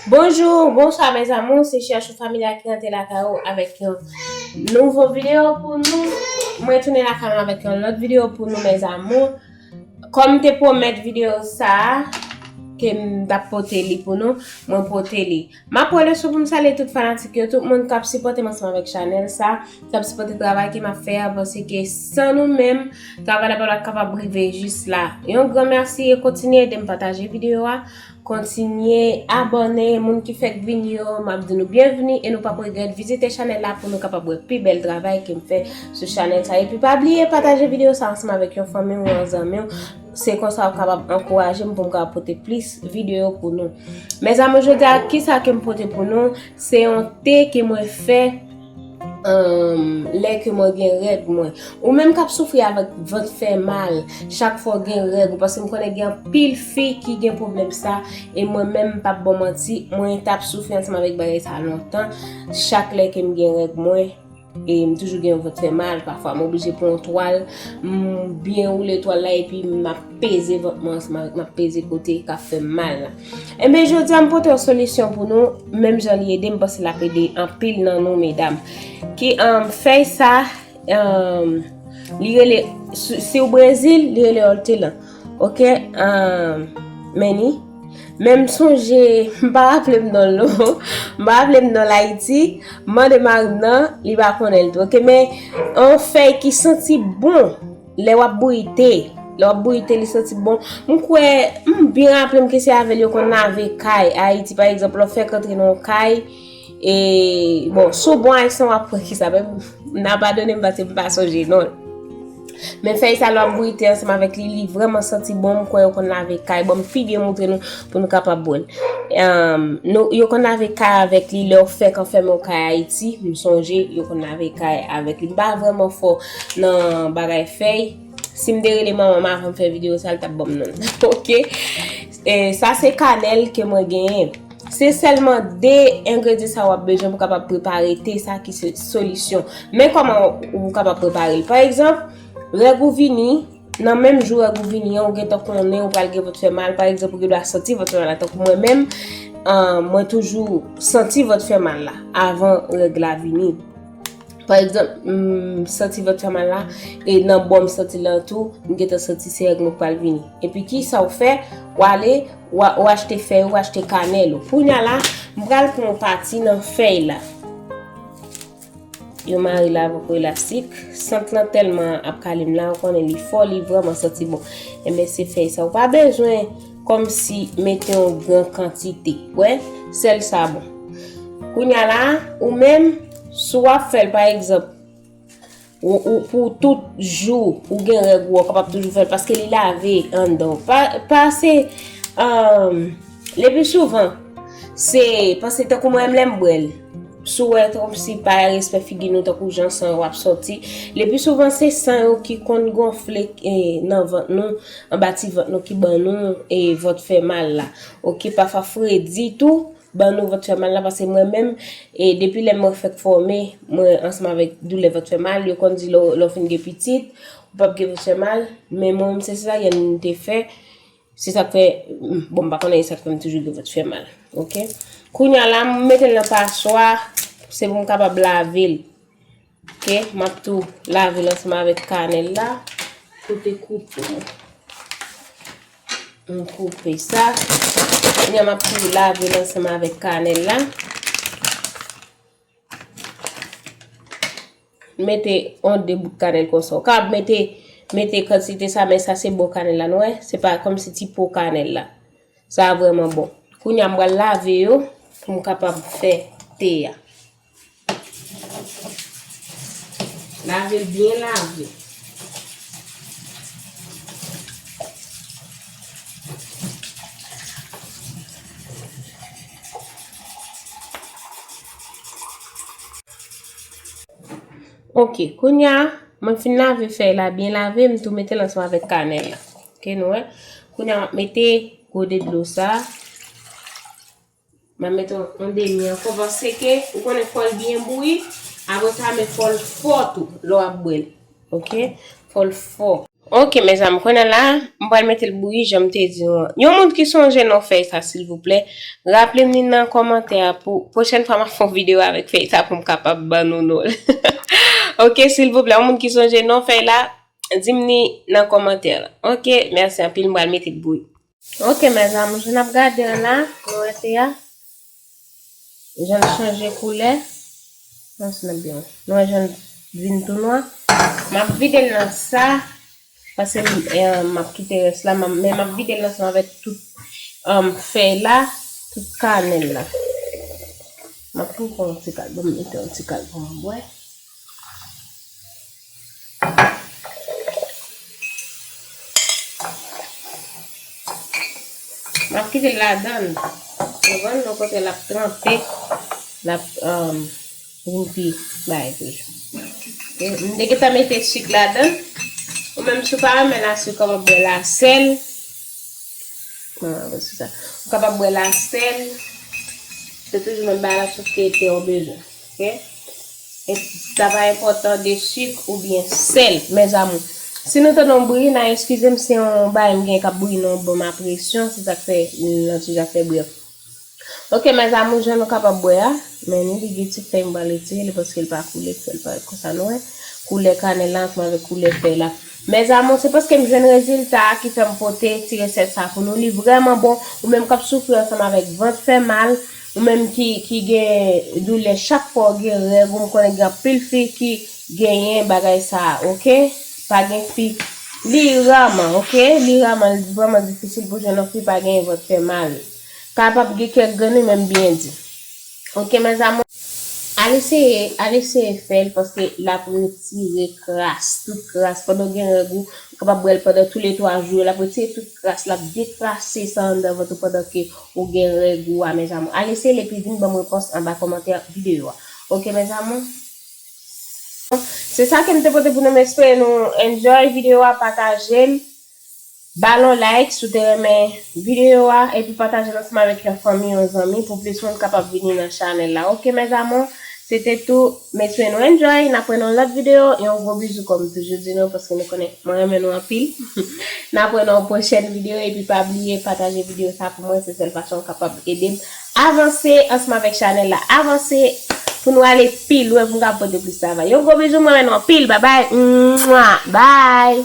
Bonjour bonsoir mes amours se chèchou familya ki rantre lakay ou avèk yon nouvo video pou nou mwen tounen lakay mwen avèk yon lòt video pou nou mes amours kòm te pwomèt video sa ke m tap pote li pou nou mwen pote li Map wèle sou poum salye tout fanatik yo tout moun kap sipòtem ansanm avèk chanèl sa kap sipòte travay ke map fè a paske san nou menm travay la patap kapab rive jis la yon gran mèsi e kontinye edem pataje video a kontinye abòne moun ki fèk vini yo map di nou byenvni e nou pap regrèt vizite chanèl la pou nou kapab wè pi bèl travay kem fè sou chanèl sa epi pa bliye pataje video sa ansanm avèk yon fanmiw yon zanmiw Se konsa ou kapab ankourajem poum ka pote plis video pou nou. Mes amour jodia kisa kem pote pou nou se yon te ke mwen fè lè ke mwen gen règ mwen. Ou menm kap soufri avèk vant fè mal chak fwa ou gen règ ou paske m konnen gen anpil fi ki gen pwoblèm sa e mwen menm m pap baw manti mwen tap soufri ansanm avèk bagay sa lontan chak lè kem gen règ mwen. E m toujou gen yon vant fè mal, pafwa m oblije pran yon twal, m byen woule twal la epi m ap peze vant mwen ansanm avèk m ap peze kote k ap fè m mal la. Enben jodi a m pote yon solisyon pou nou, menm jan li ede m, m panse l ap ede anpil nan nou medam. Ki fèy sa li rele si w Brezil li rele òltelan. Ok um, Manny Men m sonje, m pa raple m non l no M pa raple m non l Ayiti M mande mari m nan, li pa konnen l tou ok Men yon fèy ki santi bon lè w ap bouyi te Lè w ap bouyi te li santi bon M kwè, m byen raple m ke se avè l yo konn lave kay Ayiti pa egzanp lè w fèk antre nan yon kay E bon, si w bon ayisyen w ap pran ki sa menm, m nan padone m pase m pa sonje non l. Men fèy sa lò ap bouyi te ansanm avèk li, li vreman santi bon, m kwè yo konn lave kay. Bon, m pi byen moutre nou pou nou kapab wè l. Yo konn lave kay avèk li, lè w fèk anfème w kay Ayiti, m sonje yo konn lave kay avèk li. M pa vreman fò nan bagay fèy, si m te rele manman m avan m fè videyo sa l t ap ban m non l. Ok! Sa se kanèl ke mwen genyen. Se sèlman 2 engredyen sa wap bezwen pou kapab prepare te sa ki se solisyon. Men koman ou kapab prepare l. Pa egzanp, règ ou vini, nan menm jou règ ou vini an ou gentan konnen ou pral gen vant fè mal. Pa egzanp, ou gen dwa santi vant fè mal la. Tankou mwen menm, mwen toujou santi vant fè mal la avan règ la vini. Pa egzanp, m santi vant fè mal la, e nan bò m santi l lan tou, m gentan santi se règ mwen k pral vini. Epi kisa w fè? W ale, w achte fèy ou, w achte kanèl ou. Kounya la, m pral pran yon pati nan fèy la. Yo mare l avèk yon elastik. Sant lan tèlman ap kale m la, ou konnen li fò, li vrèman santi bon. Enben se fèy sa. Ou pa bezwen kòmsi mete yon gran kantite. Ou wè? Sèl sa bon. Kounya la, ou menm, Si w ap fè l pa egzanp pou tout jou ou gen règ ou, ou kapab toujou fè l paske li lave anndan w. Pa se, le pi souvan, se paske tankou mwen menm lè m bwè l, si w wè tankou si pa respè figi nou tankou jan san yo ap soti, le pi souvan se san yo ki konn gonfle nan vant nou, anba ti vant nou ki ban nou e vant fè mal la. Ok, pafwa fredi tou. Ban nou vant fè mal la paske mwen menm e depi lè mwen fèk fòme mwen ansanm avèk doulè vant fè mal yo konn di lè w fin gen pitit ou pap gen vant fè mal men mwen menm se sezaryen m te fè se sak fè bon m pa konnen esak fè m toujou gen vant fè mal ok kounya la m metel nan paswa se pou m kapab lavel Ok map tou lavel ansanm avèk kanèl la kote koupe m m koupe sa kounya map tou lavel ansanm avèk kanèl la mete yon 2 bout kanèl konsa ou ka mete mete kantite sa men sa se bon kanèl la nou wè se pa kòmsi ti po kanèl la sa vreman bon kounya m pral lave yo pou m kapab fè te a. Lave l byen lave. Ok, kounye a, mwen fin lave fèy la byen lave, m tou mete l ansanm avèk kanèl la. Ok nou wè. Kounye a, m ap mete gode dlo sa. Map met on demi anko paske ke ou konnen fol byen bouyi apre sa men fol fo tou lè wap bwèl ok fol fo. Ok mes amour kounye la m pral metel bouyi janm te di nou an yon moun ki sonje non fèy sa silvouplè raplem li nan kòmantè a pou pwochèn fwa map fè yon video avèk fèy sa poum kapab ban nou nonl ok silvouplè yon moun ki sonje non fèy la dim li nan kòmantè ok merci anpil m pral metel bouyi. Ok mes amours jan nap gade an la nou wè te a janl chanje koulè mwen sou nap diw nou wè janl vin tou nwa map videl nan sa pase map kite rès la men map videl nan sa avèk tout fèy la tout kanèl la map tou pran yon ti kal banm mete yon ti kal poum bwè. Wap kite l ladan l devan l kote lap tranpe lap vin pi bay toujou m te gentan mete sik ladan l ou menm si w pa renmen la sik ou kapab bwè la sèl ou kapab bwè la sèl se toujou menm bagay la sof ke te ou bezwen. Sa pa enpòtan de sik ou byen sèl mes amour. Si nou tande yon bri na eskize m se yon bagay m gen kap bouyi nan yon bòm a presyon se sak fè lantuj a fè bri an. Ok mes amour jan nou kapab wè a men ni li gen ti fèy m pral retire li paske li pa koule ki fè li parèt konsa nou wè koulè kanèl la ansanm avèk koulè fèy la mes amour se paske m jwenn rezilta a ki fè m pote ti resèt sa pou nou li vrèman bon ou menm kap soufri ansanm avèk vant fè mal. Ou menm ki gen doulè chak fwa ou gen règ ou m konnen gen anpil fi ki genyen bagay sa ok pa gen fi li raman ok li raman li vrèman difisil pou jwenn yon fi pa genyen vant fè mal kapab gen kèk grenn wi men m byen di ok mes amours al eseye al eseye fè l paske l ap retire kras tout kras pandan w gen règ ou kapab bwè l pandan tou le 3 jou yo l ap retire tout kras l ap dekrase sa anndan vant ou pandan ke Ou gen règ ou a mes amour. Al eseyel epi vin banm repons anba kòmantè video a ok mes amour. Se sa kem te pote pou nou m espere nou enjoy video a patajel balon like si w te renmen video a epi patajel ansanm avèk yon fanmi yon zanmi pou plis moun kapab vini nan chanèl la ok mes amour se te tout. Mesye nou enjoy, nap wè nan lòt video, yon gwo bizou kòm toujou di nou paske nou konnen mwen renmen nou anpil nap wè nan yon pwochèn video epi pa bliye pataje video sa pou mwen se sèl fason ou kapab edem avanse ansanm avèk chanèl la avanse pou nou ale pi lwen pou nou kapab pote plis travay yon gwo bizou mwen renmen nou anpil babay mwaa baay.